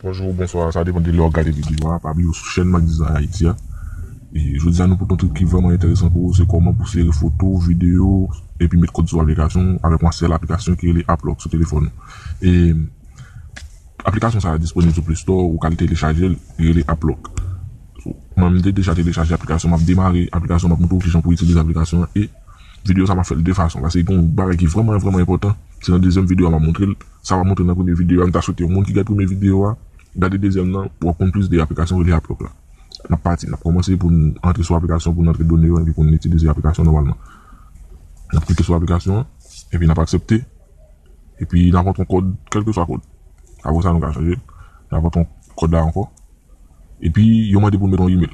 Bonjou ou bonswa, sa depan de lè wap gade videyo a, pa bliye ou sou chèn Macdizay Haïti a. E jodi a nou pote yon trik ki vrèman enteresan pou ou, se kòman pou sere foto, videyo, epi met kòd sou aplikasyon ou avèk yon sèl aplikasyon ki rele Aplòk sou telefòn ou. E aplikasyon sa a disponib sou Play Store, ou ka al telechajel, li rele Aplòk. Mwen m te deja telechaje aplikasyon map demare aplikasyon map montre w kijan pou itilize aplikasyon an e videyo sa map fèl 2 fason paske gen yon bagay ki vrèman vrèman enpòtan se nan dezyèm videyo a map montre l sa pa montre nan premye videyo a m ta swete yon moun ki gad premye videyo a gade dezyèm nan pou wap konn plis de aplikasyon rele Applok la nap pati nap kòmanse pou n antre sou aplikasyon pou n antre done yo epi pou n itilize aplikasyon nòmalman nap klike sou aplikasyon an epi nap aksepte epi nap antre yon kòd kèlkeswa kòd apre sa nou ka chanje nap antre kòd la ankò. Epi yo mande pou met yon email.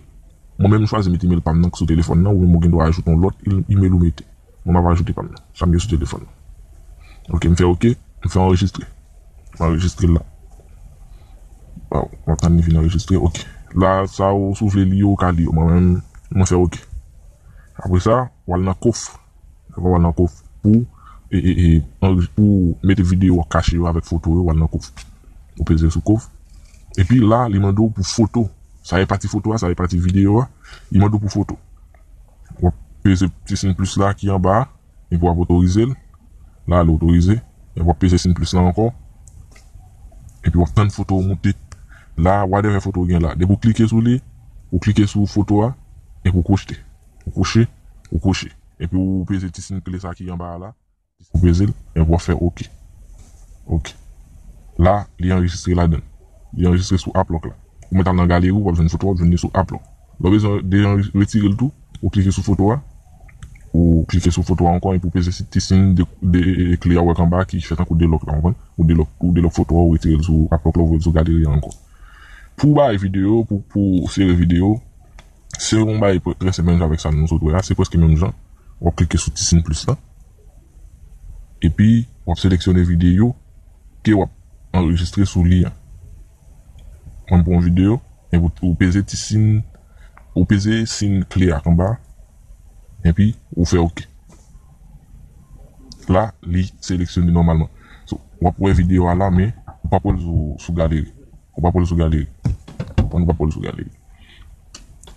Mwen menm m chwazi met email pam nan k sou telefòn nan ou menm ou gendwa ajoute yon lòt email ou mete. Mwen map ajoute pam nan. Sa m gen sou telefòn nan. Ok m fè ok m fè anrejistre. M anrejistre la. Waw map tann li fin anrejistre ok. La sa ou si ou vle li yo ou ka li yo mwen menm mwen fè ok. Apresa wal nan kofr. Epi wal nan kof pou pou mete video wap kache yo avek foto yo wal nan kof ou peze sou kof epi la li mande w pou foto sa e pati foto a sa e pati video a li mande w pou foto wap peze ti sin plis la ki anba a epi wap otorize l la li otorize epi wap peze sin plis la anko epi wap tann foto w moute la whatever foto w gen la depi w klike sou li ou klike sou foto a epi w pwojte. Ou kouche, ou kouche. Epi ou peze ti sin kle sa ki anba a la. Ou peze l, epi w ap fè ok. Ok. La, li anrejistre ladan l. Li anrejistre sou App Lock la. Ou mèt al nan galeri w, w ap jwenn foto a, w ap jwenn li sou App Lock. Lè w bezwen deretire l tou, ou klike sou foto a. Ou klike sou foto a ankò epi ou peze sou ti sin kle a ou wè anba a ki fè tankou 2 lòk la, w konprann? Ou delòk foto a, ou retire l sou App Lock la, ou voye l sou galeri a ankò. Pou w bay videyo, pou w sere videyo, Se yon bagay prèske menm jan avèk sa nou sot wè a, se prèske menm jan, wap klike sou ti sin plis lan, epi wap seleksyone videyo ke wap anrejistre sou li an, mwen pran yon videyo, epi ou peze ti sin, ou peze sin kle ak anba, epi ou fè ok, la li seleksyone nòmalman, so wap wè videyo a la men ou pap wèl sou galeri, ou pap wèl sou galeri, ou konn ou pap wèl sou galeri.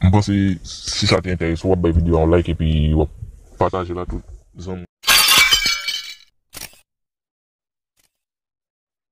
M panse si sa te enterese w wap bay video a yon like epi wap patajel a tout zanmi w yo.